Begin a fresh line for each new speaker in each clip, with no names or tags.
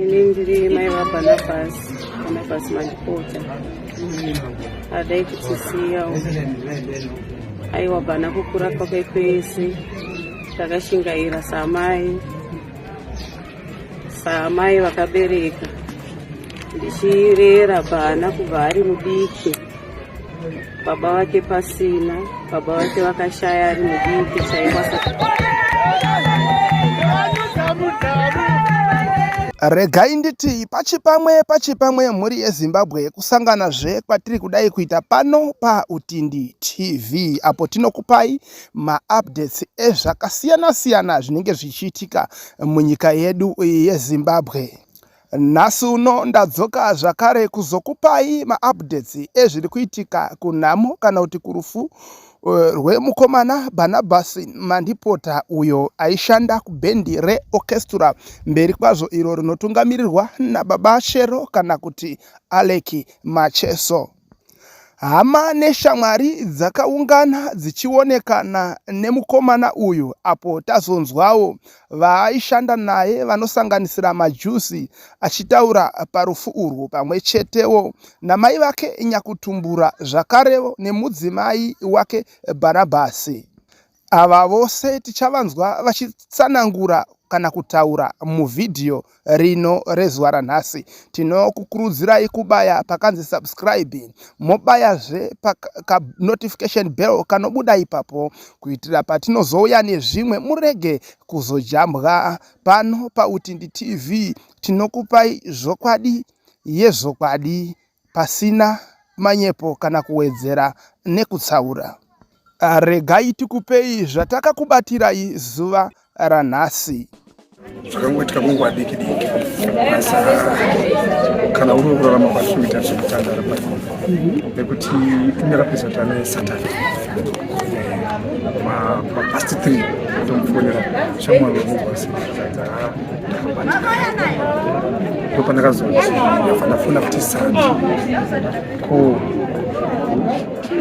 ini ndiri mai vabanabhasi banabhasi mandipota adai kutisiyawo aiwa bana kukura kwake kwese takashingaira samai samai vakabereka ndichirera bana kubva ari mudiki baba vake pasina baba vake vakashaya ari mudiki
chaikwasa regai nditi pachipamwe pachipamwe mhuri yezimbabwe kusangana zve kwatiri kudai kuita pano pautindi tv apo tinokupai maupdates ezvakasiyana-siyana zvinenge zvichiitika munyika yedu yezimbabwe Nhasi uno ndadzoka zvakare kuzokupai maupdates ezviri kuitika kunhamo kana kuti kurufu eh, rwemukomana Barnabas Mandipota uyo aishanda kubhendi reOrchestra mberi kwazvo iro rinotungamirirwa naBaba Shero kana kuti Alec Macheso. Hama neshamwari dzakaungana dzichionekana nemukomana uyu apo tazonzwawo vaaishanda naye vanosanganisira Majusi achitaura parufu urwu pamwe chetewo namai vake Nyakutumbura zvakarewo nemudzimai wake Bhanabhasi. Ava vose tichavanzwa vachitsanangura kana kutaura muvhidhiyo rino rezuva ranhasi. Tinokukurudzirai kubaya pakanzi subscribe mobayazve panotification bell kanobuda ipapo kuitira patinozouya nezvimwe murege kuzojambwa pano paUtindi TV. Tinokupai zvokwadi yezvokwadi. pasina manyepo kana kuwedzera nekutsaura. Ah, regai tikupei zvatakakubatirai zuva ranhasi. zvakangoitika
kwenguva diki diki asi kana uri wekurarama kwati kuita zvekutandara pa nekuti inerapisa kuti ane satan mapast three tomufonera shamwari wemugwasi ndopandakazoti ndafana kuti sati ko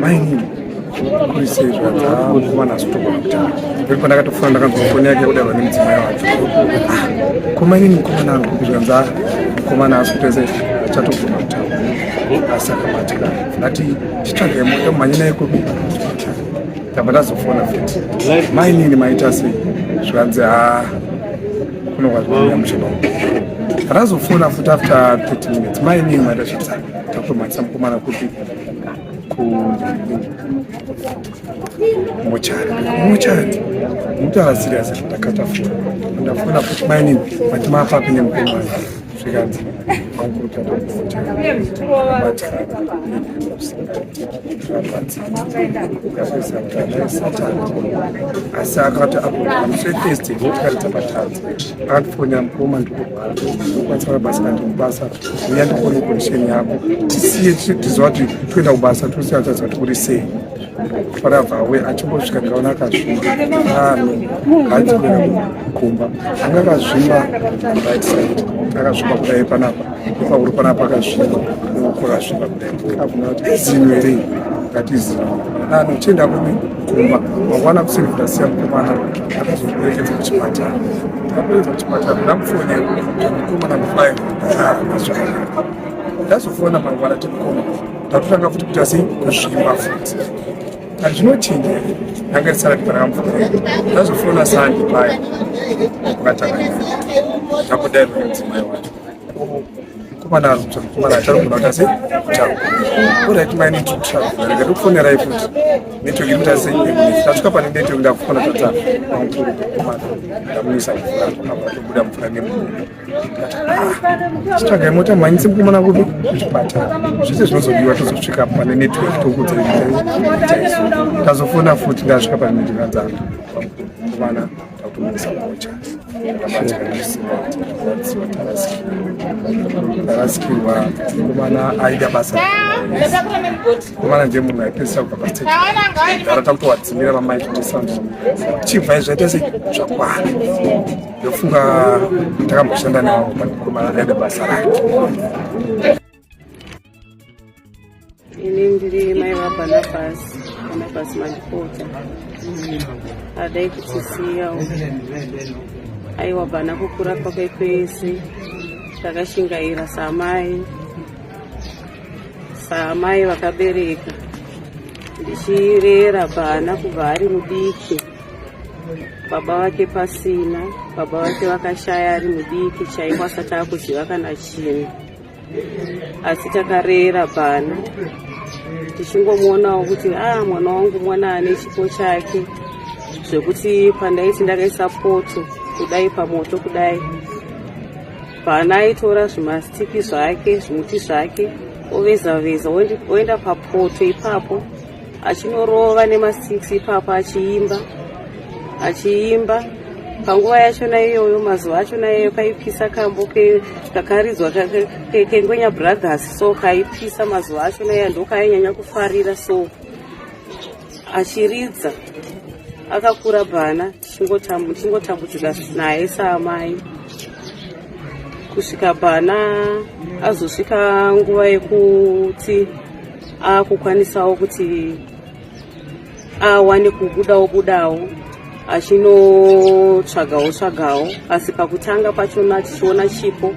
mainini kurisei zvadzaakuwana asitogona kutanga peri pandakatofona ndakanzwa foni yake kudarwa nemudzimai wacho ah, ko mainini mukomana angu zvikanzi a ah, mukomana asi kutese achatogona kutanga asi akabatikana ndati chitsvage mota mhanye naye kubika tamba tazofona futi mainini maita sei zvikanzi ha kuno kwazvinoya mushaba ratazofona futi after 30 minutes mainini maita zvitsa takutomatisa mukomana kuti mochari mochari mutaura serious ndakatafona ndafona futi mainini mati mapapi nemukomana zvikanzi makuta asi akati apoteste ndikaridza patadza akatifonya mukoma ndikokwanisa mabasa kati mubasa uya ndikuone condition yako tisiye tiziva kuti toenda kubasa tosiya taziva kuti kuri sei faravawe achimbosvika ndikaona akazvimba ano hanzi kuenda kumba anga akazvimba right side akazvimba kudai panapa ipauri panapa akazvimba uko akazvimba kudai akuna kuti izino here ngati izino nano chienda kumi kumba mangwana kusini kutasiya mukomana akazoperekedza kuchipatara aperedza kuchipatara ndamufonera mukomana mufai ndazofona mangwana timukoma tatotanga futi kuita sei kuzvimba futi kati zvinochinja here anga risara tipanaka mvura yedu tazofona sandi paya ukatanga takudairwa nemudzimai wacho mukomana arubsa mukomana acharogona kuita sei kutaura orit mai need to travel rega tokufonerai futi network iri kuita sei tasvika pane network ndakufona tatanga mamukurukomana ndamuisa mvura aatobuda mvura nemukuruko chitsvagai mota mhanyise mukomana kupi kuchipatara zvese zvinozodiwa tozosvika pane network tokuudza ndazofona futi ndasvika pane network dzangu mukomana takutomisa mocha tarasikirwa mukomana aida basa mukomana ndiye munhu aipesera kubva pasitara takutowadzimira vamai kuti sandra chibvai zvaita se zvakwana ndofunga takamboshanda nawo panokomaaida
basa rake ini ndiri mai vabanabas banabas mandipota adai kutisiyawo aiwa bana kukura kwake kwese takashingaira samai saamai vakabereka ndichirera bana kubva ari mudiki baba vake pasina baba vake vakashaya ari mudiki chaiko asati akuziva kana chinhu asi takarera bana tichingomuonawo kuti a ah, mwana wangu mwana ane chipo chake zvekuti pandaiti ndakaisa poto kudai pamoto kudai bana aitora zvimastiki zvake zvimuti zvake oveza veza oenda papoto ipapo achinorova nemasix ipapo achiimba achiimba panguva yachona iyoyo mazuva achona iyoyo paipisa kambo kakaridzwa kengwenya brothers so kaipisa mazuva achona iya ndokaainyanya kufarira so achiridza akakura bana tichingotambudzika naye saamai kusvika pana azosvika nguva yekuti akukwanisawo kuti awane kubudawo budawo achinotsvagawo tsvagawo asi pakutanga pachona tichiona chipo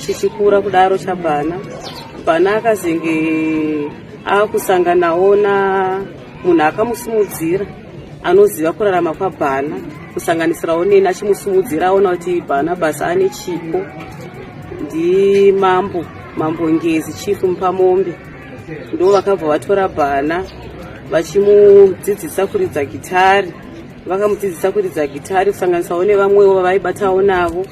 chichikura kudaro chabhana bhana akazenge akusanganawo na munhu akamusimudzira anoziva kurarama kwabhana kusanganisirawo neni achimusimudzira aona kuti bhana basa ane chipo ndimambo mambo ngezi chief mupamombe ndo vakabva vatora bhana vachimudzidzisa kuridza gitari vakamudzidzisa kuridza gitari kusanganisawo nevamwewo vavaibatawo navo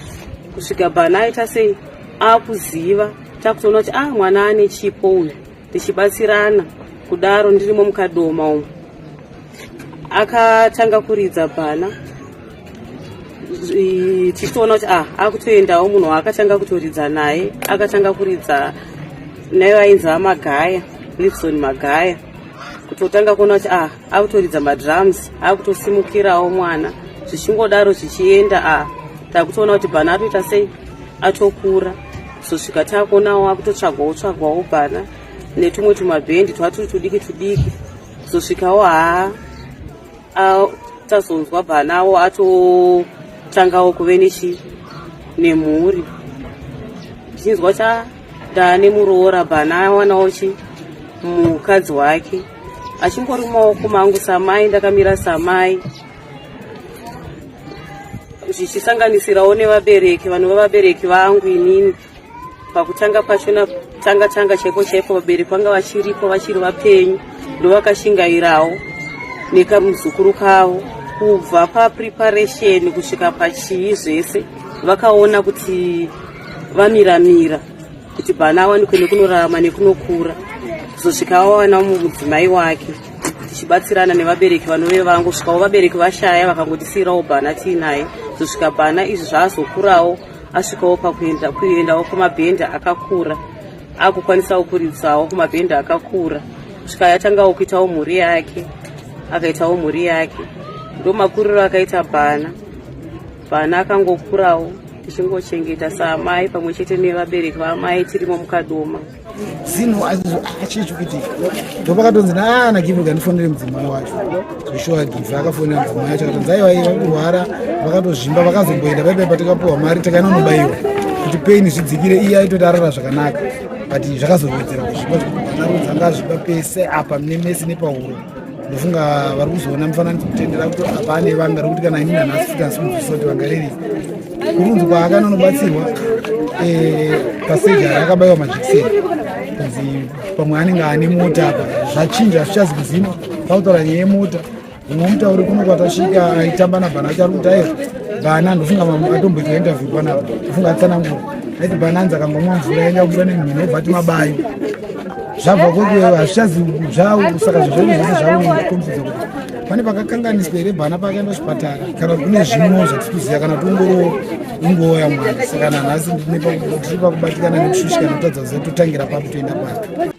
kusvika bhana aita sei akuziva takutoona kuti ah mwana ane chipo uyu tichibatsirana kudaro ndirimo mukadoma umu akatanga kuridza bhana tichitoona kuti ah akutoendawo munhu waakatanga kutoridza naye akatanga kuridza naye vainzi vamagaya lipson magaya kutotanga kuona kuti ah akutoridza madrums akutosimukirawo mwana zvichingodaro zvichienda ah takutoona kuti bhana atoita sei atokura kuzosvika takuonawo wakutotsvagwawo tsvagwawo bana netumwe tumabhendi twaturi tudiki tudiki kuzosvikawo haa tazonzwa banawo atotangawo kuve nechi nemhuri ndichinzwa cha ndane muroora bana awanawo chi mukadzi wake achingori mumaoko mangu samai ndakamira samai zvichisanganisirawo nevabereki vanova vabereki vangu inini pakutanga pacho natanga tanga chaiko chaiko vabereki vanga vachiripo vachiri vapenyu ndovakashingairawo nekamuzukuru kavo kubva papreparation kusvika pachii zvese vakaona kuti vamiramira kuti bana awanikwe nekunorarama nekunokura kuzosvika wawana mumudzimai wake tichibatsirana nevabereki vanove vangosvikawo vabereki vashaya vakangotisiirawo bhana tiinaye zosvika bhana izvi zvaazokurawo asvikawo pakuendawo kumabhenda akakura akukwanisawo kuridzawo kumabhenda akakura svika yatangawo kuitawo mhuri yake akaitawo mhuri yake ndo makuriro akaita bhana bhana akangokurawo tichingochengeta saamai pamwe chete nevabereki vaamai tirimo mukadoma zinhu
achichikitika ndopakatonzi naana give kandifonere mudzimai wacho zveshuwa give akafonera mudzimai wacho akatonzi aiwa iye vakurwara vakatozvimba vakazomboenda paipai patakapuwa mari takanonobayiwa kuti paini zvidzikire iye aitoti arara zvakanaka but zvakazowedzera kuzvipa zvekuanarodzi anga azvipa pese apa mune mese nepahuro ndofunga vari kuzoona mufananidzo kutendera kuti apane vanga rekuti kana ini nanhasi futi asi muzviso kuti vangarerei kurudzi kwaakanonobatsirwa eh, paseja akabayiwa majekiseni kunzi pamwe anenge ane mota apa zvachinja hazvichazi kuziva pautaura nyaya yemota umwe mutauri kuno kwatasvika aitamba nabhana achari kuti ayo bhana ndofunga atomboitwa interview panapa ndofunga atsanangura aiti bhana anzi akangomwa mvura yaenda kubuda nemhino obva ti mabayo zvabva kwekeyo hazvichazi zvawo saka zvezvese zvawo komfidza kuti pane pakakanganiswa here bana pakaenda zvipatara kana kuti kune zvimwewo zvatikuziva kana kuti ungorowo ingowo yamwari saka nanhasi tiri pakubatikana nekushushika notadza kuziva totangira papi toenda papi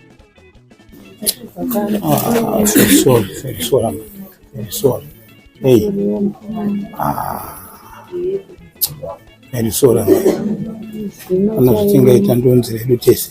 kana zvitingaita ndonzi redu tese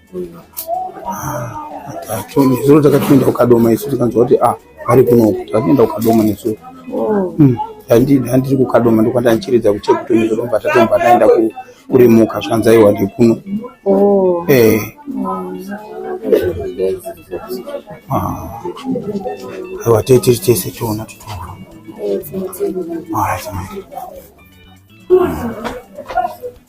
Zuro takatoenda kukadoma isu tikanzwa kuti ah vari kunoku takatoenda kukadoma nesu oh. hmm. handiri kukadoma ndokwandandichiridza kuchekutoni zvoromba tatomba taenda kurimuka zvikanzi aiwa ndikuno oh. eh. ah. aiwa tee tiri tese tiona titoona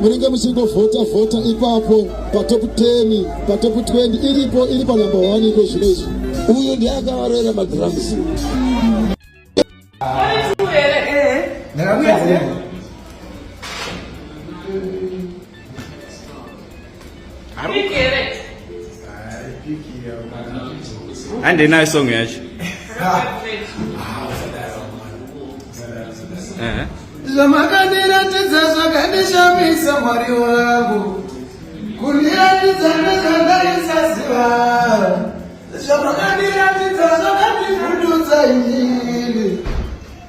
munenge muchingovhota vhota ipapo patop 10 patop 20 iripo iri panumber 1 iko zvino izvi uyu ndiye akavaroera madrums Yeah.
hande nayo song yacho
zvamakandiratidza zvakandishamisa mwari wangu kundiratidza nezvandaisaziva zvamakandiratidza zvakandivhundudza inini